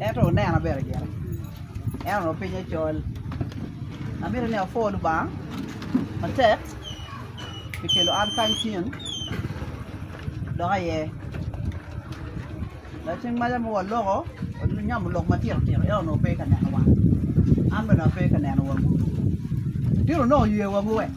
Ento onena bene gire, en onongo pinye col. Amito ni apwo Lubanga matek pi kelo an kany cen dok aye. Dok cing maca ma waloko onyomo lok matino tino en onongo pe ka neno wa, an bene ape ka neno wagu. Tino onongo oye wagu wek.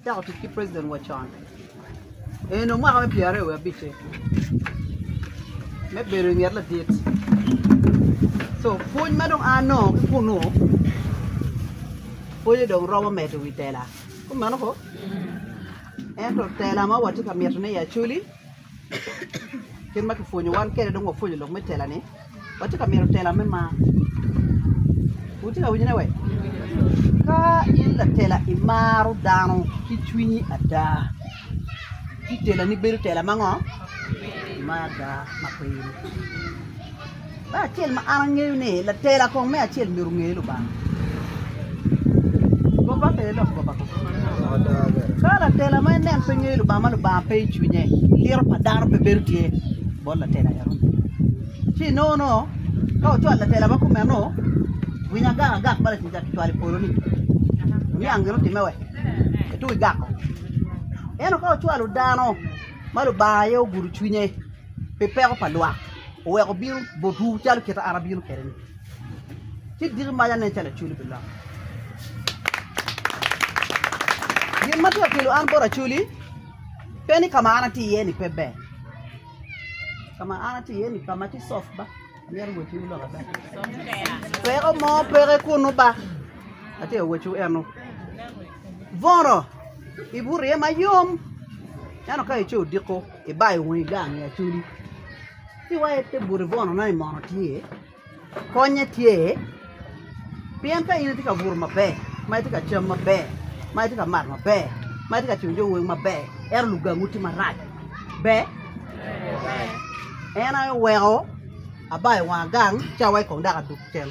Acako tic ki president wa con eno mwaka me pyera aryo wa abice me bedo i nget ladit so pwony ma dong anongo ki kunu pwonye dong romo medo wi tela kumeno ko ento tela ma watye ka mito ni acwali kit ma kipwonyo wan kwede dong wapwonyo lok me tela ni watye ka mito tela me mar wutye ka winyo ne we ka in latela i maro dano ki cwinyi ada ci tela ni bedo tela mango ma ada ma kwir. Me acel ma an angeyo ni latela kong me acel myero onge Lubanga. Goba pe ilok goba kong. Ka latela ma inen pe ngeyo Lubanga ma Lubanga pe i cwinye, liro pa dano pe bedo tye bot latela eno. Ci inono ka ocwalo latela ma kumeno, winyo agak agak ma lacuc kicwalo i polo-ni, oniang gin otimme we? Eto igako. Ento ka ocwalo dano ma Lubanga aye ogudo cwinye pi peko pa lwak, oweko bino botwu calo kit ma an abino kwede-ni. Ci diki mac anen calo acoli pi lok. Gin ma tye ka kelo an bot acoli pe ni ka ma an atye iye-ni pe ber, ka ma an atye iye-ni ka ma tye coft ba, amyero owecciwu lokke ba, peko mo peke kunnu ba, atye ka wecciwu eno. Bono ibuto iye mayom ento ka ice odiko. ibayo wongi gang i acholi ci wa ite buto i bono na ni mono tye konye tye pien ka in itye ka buto maber ma itye ka cam maber ma itye ka mato maber ma itye ka cwiyo jo weng maber ento lugangu tye marac ber? en aye weko abayo wanga gang ci awaco kong dok adog keken.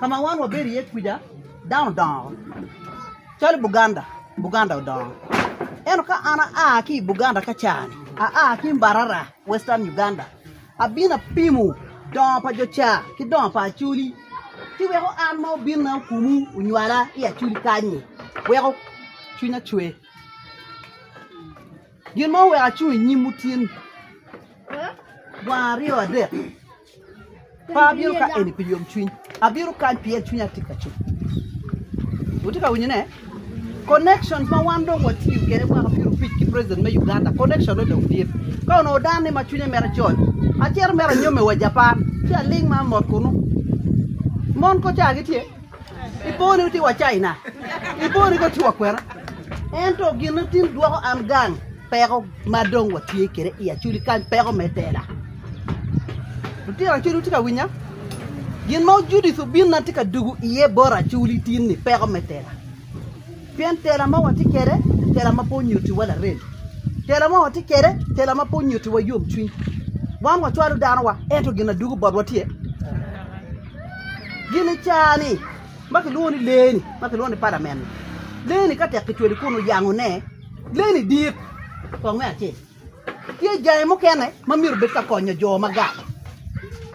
Ka ma wan wabedo iye kuca, dano odongo calo Buganda, Buganda odongo. Ento ka an aa ki i Buganda ka caa-ni, aa ki i Mbarara, Western Uganda, abino apimo dongo pa jo caa ki dongo pa Acholi ci weko an ma obinna okumu onywala i Acholi kany-nyi weko cwinya cwer. Gin ma oweko acung i nyimwu tye ni, gwango aryo adek. Pe abino ka eni pi yomcwiny, abino kany pien cwinya tit ka cuk. Wutye ka winyo ne? Connections ma wan dong watiyo kwede mwaka pyero abic ki president me Uganda, connection ne dong dit. Ka onongo dan ni ma cwinye mito coc, acito mere anyomme wa Japan ci aling ma amot kunu. Mon koca gitye? Ipo ni wutye wa China? Ipo ni koca wutye wa kwena? Ento gin na tin dwoko an gang. Peko ma dong watye kwede i Acholi kany peko me tela. Lutino Acholi wutye ka winya? Gin ma Judith obin na tye ka dugu iye bot Acholi tin ni peko me tela. Pien tela ma watye kwede tela ma pe onyutiwa larem. Tela ma watye kwede tela ma pe onyutiwa yomcwiny. Wan wacwalo danowa ento gin adugu botwa tye. Gin i caa ni ma kilwongo ni lee-ni ma kilwongo ni palamen-ni. Lee-ni ka tek kicweli kun oyangone, Leni dit. Kong me acel, tye jange mukene ma myero obed ka konyo jo magat.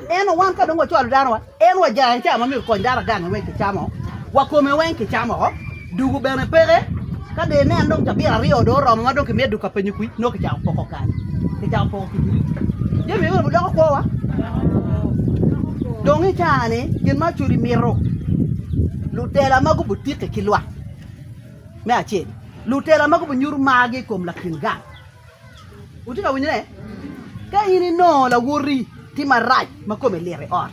Ento wan ka dong wacwalo danowa, en wa jange ca ma myero okony dano agange weng kicamo, wa kome weng kicamo woko, dugu bene peke, ka dong ineno dong cabira aryo dong oromo ma dong kimiyo dugu ka penyo kwir, nongo kicako poko kany, kicako poko kibirici. Jami meno gidoko kwowa? Dong i caa-ni gin ma cudi mito, lutela ma gubutiki ki lwak. Me acel, lutela ma gubo nyuto margi i kom lakin gang. Wutye ka winyone? Ka in inongo lawoti tye marac ma kome lit i ot,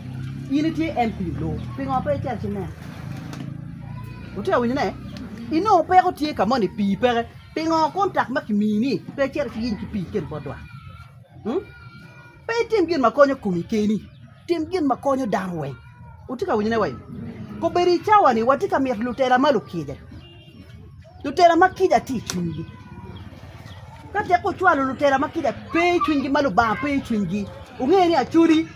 in itye en pi loo, pingo pe icito ci inene? Wutye ka winyone? Inongo peko tye ka moni, pii peke, pingo kontak ma kimiyi-ni pe icito ci iiny ki pii ikel bot dwak? Pe itim gin ma konyo komi keni, tim gin ma konyo dano weng. Wutye ka winyone wa? Kobedo i cawa-ni watye ka mito lutela ma lukica, lutela ma kica tye i cwinygi. Ka tek wucwalo lutela ma kica pe i cwinygi, ma Lubanga pe i cwinygi, wunge ni acodi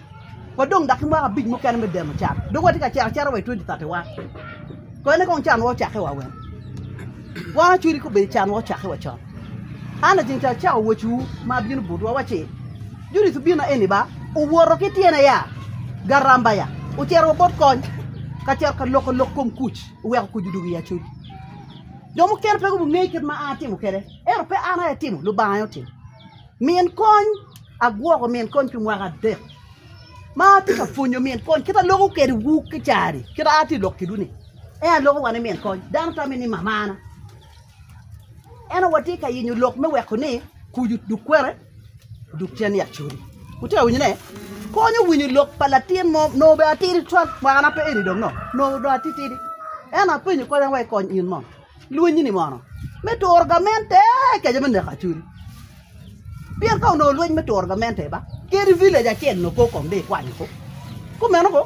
wadong dak ki mwaka abic mukene me demo can, dong watye ka cito acita wa i twenti tati wan. Kone kong canwa ocakke wa weng? Wan acodi kobedo canwa ocakke wa con. An lacen ca acako wacciwu ma abino botwu, awacci, Judic obino na eni ba, owoto ki tyene ya garamba ya, ocito wa bot kony, ka cito ka loko lok kom kuc, oweko kuc odwogo i acoc. Jo mukene pe gungeyo kit ma an atimo kwede, ento pe an aye atimo, Lubanga aye otimo. Min kony, agwoko min kony pi mwaka adek, ma atye ka pwonyo min kony kit ma aloko kedwu kica-ni, kit ma an atye ka loko kedwu-ni, en aye loko wa ni min kony, dano tamo ni mamana. Eno watye ka yenyo lok me weko ni kuc oduk kwene, oduk cen yat codi. Wutye ka winyo ne? Konyo winyo lok pa latin mo nongo bene atidi twal kwena pe eni dong no nongo dong atitidi. Eno apenyo kadi an wai kony in mo, lweny ni mono me turo gamente keco me neko codi? Pien ka onongo lweny me turo gamente ba, kadi i village acel onongo pe okomme i kwanyo kop. Kumeno ko,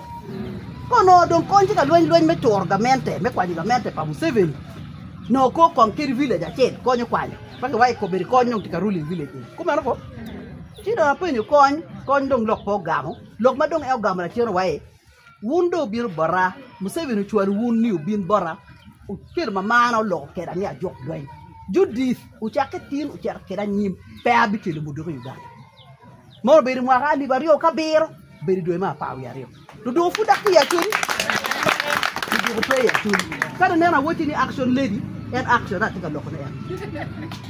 ka onongo dong kony tye ka lweny lweny me turo gamente, me kwanyo gamente pa Museveni, onongo ko kong kadi village acel konyo kwanyo, pe kiwaco kobedi kony dong tye ka ruling village eni. Kumeno ko, ci dong apenyo kony, kony dong lok pe ogamo, lok ma dong en ogamo lacen wa-i, Wun dong wubino bota, Museveni ocwalo wun ni wubin bota, Ocelli ma marna oloko keda ni ajok dweny. Judith, wucakke tin wucito keda anyim, pe abicelo mo doko i Uganda. Mono obedo i mwaka alip aryo ki abiro, obedo i dwe me apar wiye aryo. Luduku pud dok peya cwiny, luduku peya cwiny. Ka nineno awacci ni action lady, en action-ne atye ka lokone en.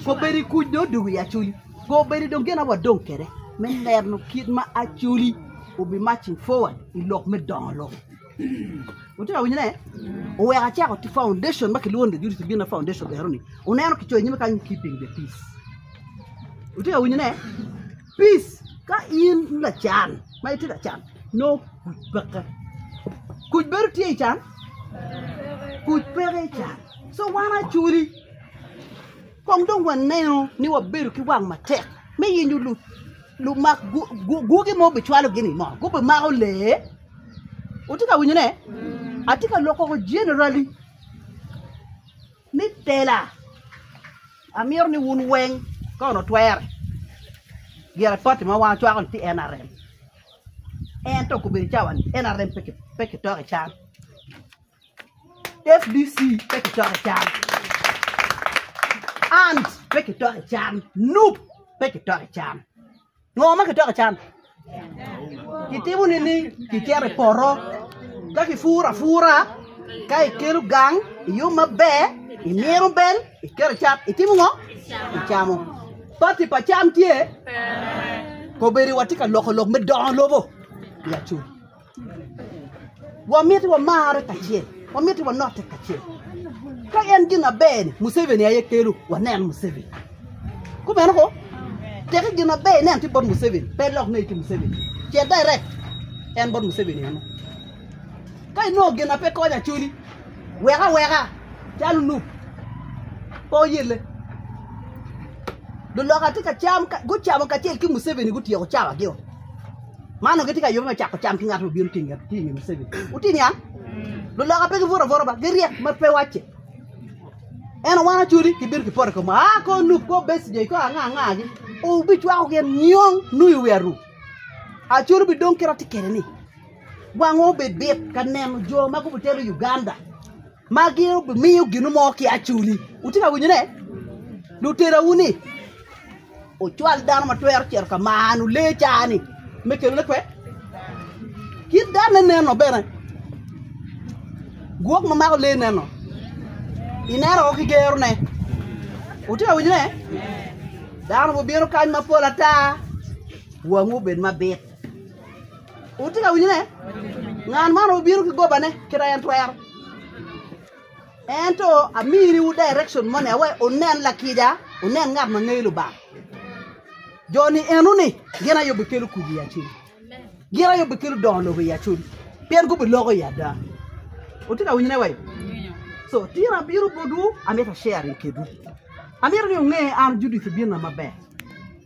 Kobedi kuc dong odwogo iya cwiny. Go bene dong gin awadong kede me neno kit ma Acoli obi marching forward i lok me dongo lobo. Wutye ka winyo ne? Oweko acako ti foundation ma kilwongo ni Judith Bina Foundation ero ni. Wuneno kicoyo nyime kany ni keeping the peace. Wutye ka winyo ne? Peace ka in lacan ma itye ka can nongo kuc peke. Kuc bedo tye i can? Kuc peke i can. So wan Acoli Kong dong wanenu ni wabedo ki wang matek me yenyo lumak gwogi ma obicwalogi ni mo gubimako lee. Wutye ka winyone? Atye ka loko woko jenerali ni tela. Amito ni wun weng ka onongo twere girapoti ma wan wacwako ni tye NRM ento okobedo cawa ni NRM pe kitoko i can. FDC pe kicok i cam, ANT pe kicok i cam, Nup pe kicok i cam, ngo ma kicoko i cam? Kitimo nining? Kicito i poto ka kipuro apura ka ikelo gang iyub maber imino bel iketo i cam itimo ngo? Icamo. Pati pa cam tye? Pe. Kobedi watye ka loko lok me dongo lobo? Wamiti wamarre kacel, wamiti wanotte kacel. Ka en gin aber-ni, Museveni aye kelo wanen Museveni. Kumeno ko, teke gin aber inen tye bot Museveni, pe ilok ne ki Museveni. Cit dairek, en bot Museveni eno. Ka inongo gin na pe konyo Acholi, wek aweka, calo Nup, pe oyelle. Luloka tye ka cam, gucamo kacel ki Museveni gutyeko cawagio. Man onongo gitye ka yobe me cako cam ki ngat ma obino tye i nge Museveni. Wutye niang? Luloka pe gibwot abwota ba, giryek ma pe wacce. Eno wan acodi kibino kipoto i koma, aa kor nup, kor Besigye, kor anga angagi. Wubicwako gin nyong nung i wi aru. Acodi bidong kit ma atye kwede-ni. Wangwa obed bit ka neno jo ma gubitero Uganda. ma gin obimiyo ginu mo ki acuni. Wutye ka winyone? Luterawu ni wucwal dano ma twero cito ka manu lee caa-ni me kelone kwe. Kit danne neno bene, gwok ma mako lee neno, ineno woko ki gerone. Wutye ka winyone? Dano bibino kany mapol ata, wangwu obed mabit. Wutye ka winyo ne? Ngan man obino ki gobane kit en twero. Ento amini wu direction moni awe unen lakica, unen ngat ma ngeyo Lubanga. Jo ni eno ni gin aye bikelo kuc i acudi. Gin aye bikelo dongo lobo i acudi. Pien gubiloko i ada. Wutye ka winyo ne wai? So tin abino botwu amito share ni kedwu. Amito ni unge an Judith obino na maber.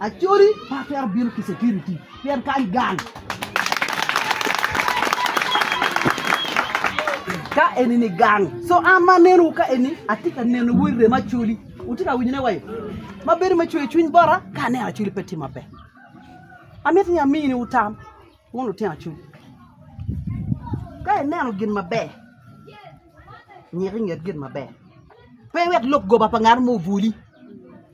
Acholi pe atwero bino ki security pien kany gang. Ka eni ni gang. So an ma anenowu ka eni atye ka nenowu i rem Acholi. Wutye ka winyone wa yo? Ma bedo me cweyo cwiny bota ka aneno Acholi pe tye maber. Amito ni aminiwu tam wun lutino Acholi. Ka ineno gin maber, nyik i nget gin maber. Pe iwek lok goba pa ngat mo obwoli.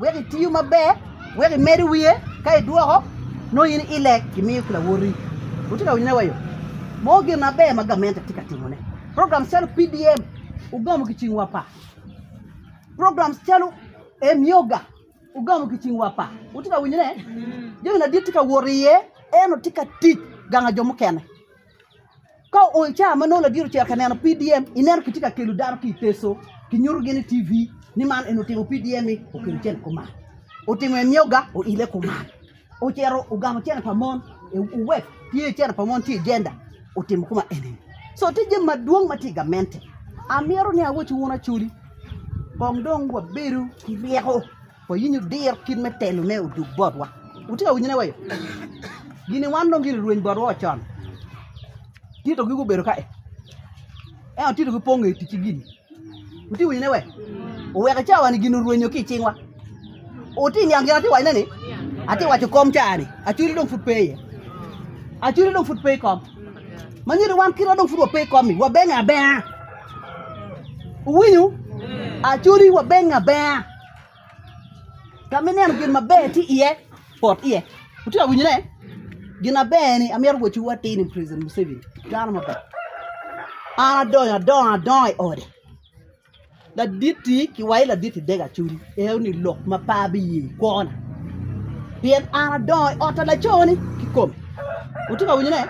Wek itiyo maber, wek imedo wiye, ka idwoko nongo in ilek imiyo ki lawoti. Wutye ka winyona wa yo? Moko gin maber ma gamente tye ka timone. Programs calo PDM wugamo ki cingwa apa? Programs calo Emyoga wugamo ki cingwa apa? Wutye ka winyone? Jami madit tye ka wot iye, ento tye ka tic ganga jo mukene. Ka ool ca ma nongo ladit ocito ka neno PDM, ineno kitye ka kelo dano ki i Teso, kinyutogi ni TV ni man en otimo PDM-mi okelo cen i kuman, otimo emyoga oilo i kuman, ocito ogamo cen pa mon, owek tye cen pa mon tye i jenda otimo koma eni-ni. Co tye jami madwong ma tye i gamente. Amyero ni awac wunu Acholi kong dong wabedu ki ryeko. Wayinyo diro kit me telo me odug botwa. Wutye ka winyone wayo? Gini wan dong gini rweny botwa ocon. Tito gi gubedo ka e. Eno tito gi pongo e ticci gini. Wutye winyone wayo? Oweke cawa ni gini orwenyo ki cingwa. Wutye niang gini ati wanyone ni? Ati wacho kom cawa ni. Aculi dong fut peye. Aculi dong fut peye kom. Manyodi wan kitwa dong fut wapeye kom ni. Wabenge abea. Uwinyo? Aculi wabenge abea. Tam ineno gin maber tye iye pot iye wutye ka winyone gin maber ni amyero wacciwu atir ni president Museveni dano maber an adongo adonga adonga i ode laditti ki wa i laditti dega codi eo ni lok ma pe abiye kwona pien an adongo i ot pa laconi kikome wutye ka winyone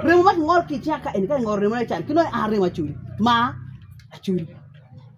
remo ma kingolo ki icinga ka eni ka ingo remone can ki nongo an remo acoli mar acoli.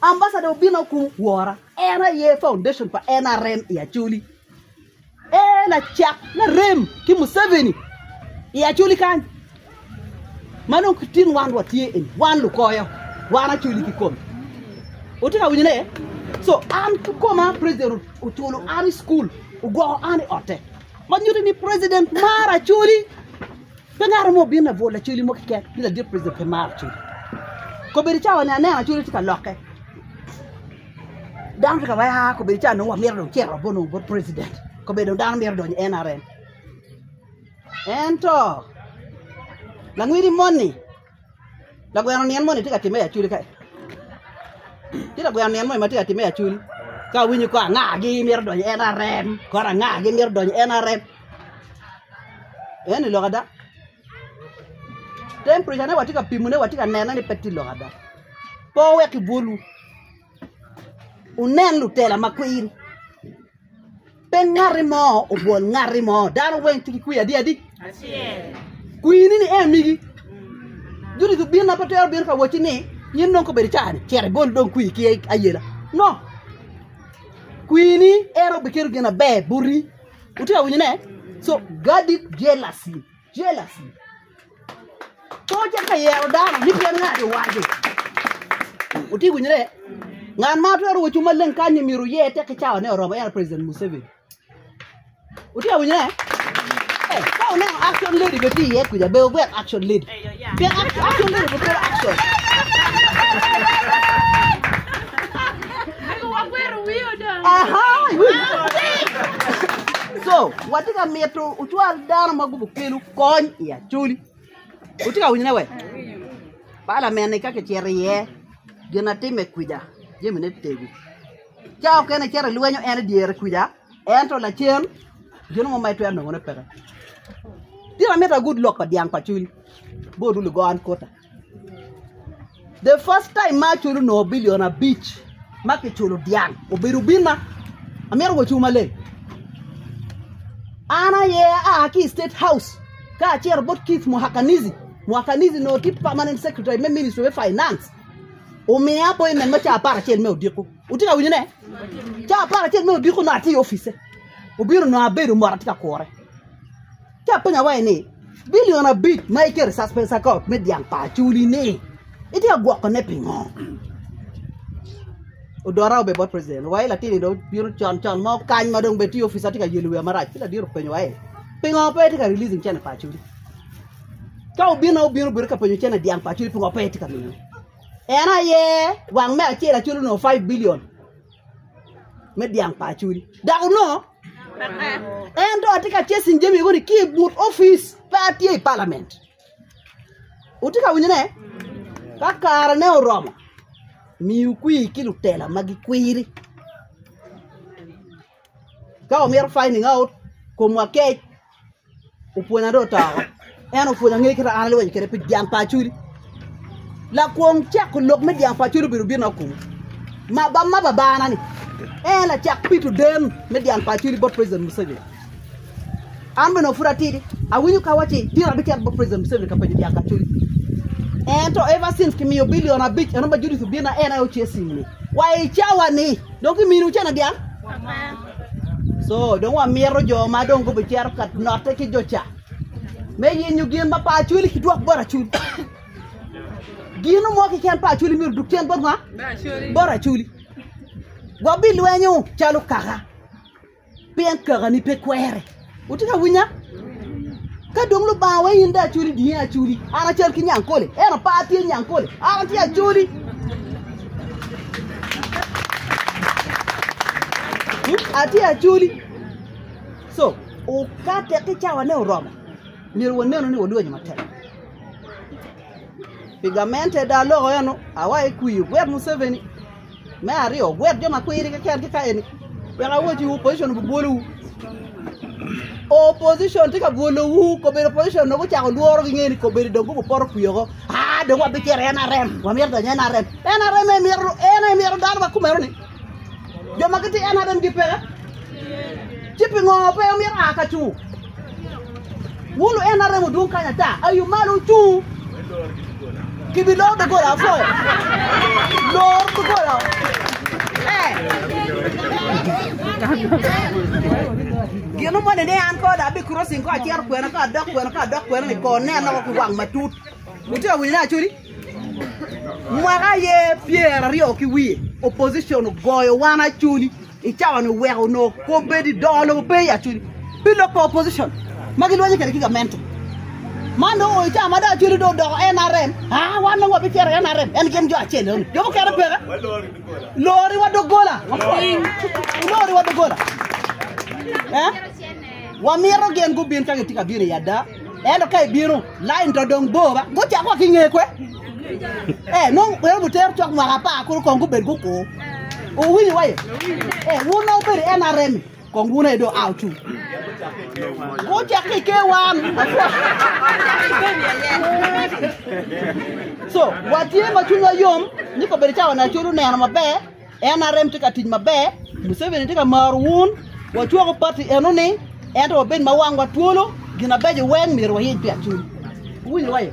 Ambasada obino akumo kwora. En aye foundation pa nrm i Acholi. Ee lacak me rem ki Museveni i Acholi kany ma nongo ki tin wan watye eni, wan lukoyo, wan Acholi kikome. Wutye ka winyo ne? So an kikoma president oculo an i school, ogwoko an i otte. Ma nyuto ni president maro Acholi. Pe ngato mo obino labwor lacoli mo keken ni ladit president pe maro coli kobedo cawa ni aneno acoli tye ka lokke dano tye ka weko aa kobedo cawa ni nongo wamito dong cito bot nongo bot president kobedo dong dano mito donyo i NRM ento langwidi moni Lagweno nyen moni tye ka timme i acwuli ka-ni, ci lagweno nyen moni ma tye ka timme i acwuli ka awinyo kor angagi myero odony i NRM, kor angagi myero odony i NRM, eno ni lok ada? Tempreca ne watye ka pimone watye ka nene ni pe tye lok ada, pe wuwek ki bwolwu wunen lutela makwir. Pe ngati mo obwol ngati mo, dano weng tye ki kwir adi adi? Acel. Kwir ni ni en migi. Joni dong bino pe twero bino ka wacci ni in dong kobedo icaa ni cit igol dong kwir ki ayela. No. Kwir ni en obiketo gin na ber boti. Wutye ka winyo ne? So guard it jealously. Jealousy. Co ocito ka yero dano ni pien ngat iwaco. Wuti winyre? Ngat ma twero wacung maleng kany-ni myero oye tek ki cawane oromo en aye President Museveni. Wuti ka winyre? Eh, ka wuneno action lady bene tye iye kwija, be wugwel action lady. Pien ac- action lady obitwero action. so watye ka mito ocwal dano ma gubo kelo kony i acoli wutye ka winyone we palamen ni ka kicito iye gin atime kwija jemine tego ca okene icito ilwenyo en idyere kwija ento lacen gin mo ma itwero nongone peke tika mita gud lok pa dyang pa cwiny bot lugo an kota The first time ma aculo onongo bilion abic ma kiculo dyang obedo obinna, amito kono cung maleng. An aye aa ki i state house ka acito bot Keith Muhakanizi, Muhakanizi onongo tye permanent secretary me ministry me finance omiya appointment me caa aparacel me odiko, wutye ka winyone? Caa aparacel me odiko nongo atye i opice obino nongo abedo mot atye ka kure. Ci apenyo awaci ni, 'Bilion abic ma iketo i cacpen caker ot me dyang pa acoli-ni, itye ka gwokone pingo? Odora obedo bot preciden, owaci ni latin-ni dong obino con con mo kany ma dong bene tye i opic ma tye ka yelo wiya marac. Ci ladit openyo awaci ni, 'Pingo pe itye ka releasing cene pa acoli? Ka obinna obino bedo ka penyo cene dyang pa acoli pingo pe itye ka miyone? En aye wang me acel acoli onongo five bilion. me dyang pa Acholi dok onongo en dong atye ka chasing jami moni ki i but opic pe atye i palament wutye ka winyo ne ka kare ne oromo miu kwir ki lutela ma gikwiri ka wumito finding out komwa kec. opwonya dong oto oko en opwonya ngec kit ma an alweny kwede pi dyang pa acholi lakwong cako lok me dyang pa acholi obedo bino kunu ma ba ma babana ni en lacak pi tudem me dyang pa acholi bot president Museveni an bene pud atidi awinyo ka waci tira abicito bot president Museveni ka penyo dyang pa acholi ento ever since kimiyo billion abic en dong ba Judith obino na en aye oce ceng-ni wa i cawa ni dong kiminiwu cene dyang So, dong wamito jo ma dong gubicito ka note ki jo ca me yenyo gin ma pa acwali kidwok bot acwali. Gino mo kiken pa acwali myero duk cen bot nga? Bot acwali. Wabilwenyo calo kaka, pien kakani pe kwere. Wutye ka winya? Ka dong Lubanga wa in de acoli di en acoli. An acal ki Nyankole. En opar tye Nyankole. An atye acoli. Hmm? Atye acoli. So, o, ka tek ki cawane oromo, myero wanenu ni walwenyo matek. Pi gamente da loko eno, awa ikwiyo gwet Museveni. Me aryo, wugwok jo ma kwiri keken ki ka eni. Wek awacciwu, opposition obibwolowu. Opposition tye ka bwolowu, kobedo opposition dong gucako lworo gingene ni kobedo dong gubo poto kwi oko. Ah, dong wabicito NRM, wamito donyo NRM. NRM aye mito, en aye mito dano ma kumeno-ni. Jo ma gitye NRM gipeke. Ci pingo pe omito a ka cu? Wun lu en aremo dwong kany ata, ayu malo wucung. Kibiloro doggola apo. Lor doggola. Eh. Gino moni ni an ko da bi crossing ko acero kwena ko adok kwena ko adok kwena ni ko ne anoko ki wang matut. Utye awinyo ne acodi? Mwaka ye pyeraryo ki wiye opposition ogoyo wan acoli. I cawa ni oweko onongo kobedi dongo lobo pe ya cwiny pi lok pa opposition ma gi lwanye kede ki gamente man dong oyo cawa ma dong acwele dong odoko NRM aa wan dong wabi cito i NRM en gin jo acel eno ni jo mukene peka lori wa dogola lori wa dogola eh wamito gin gubin ka gitye ka bino i ada ento ka ibino lain to dong bor ba gucako wa ki nge kwe Eh, nong wero buter cok mwaka apar kulu kong gubed gukur. Uwinyo waye? Eh, wun nong bedo NRM kong wun edo aw cu. Gucek ki ke wan. So, watye ma cwinywa yom ni ko bedo cawa na culu neno maber NRM tye ka tic maber, Museveni tye ka maro wun, wacwoko pati eno ni ento wabed ma wangwa twolo gin abeco weng myero wayic pi acul. Uwinyo waye?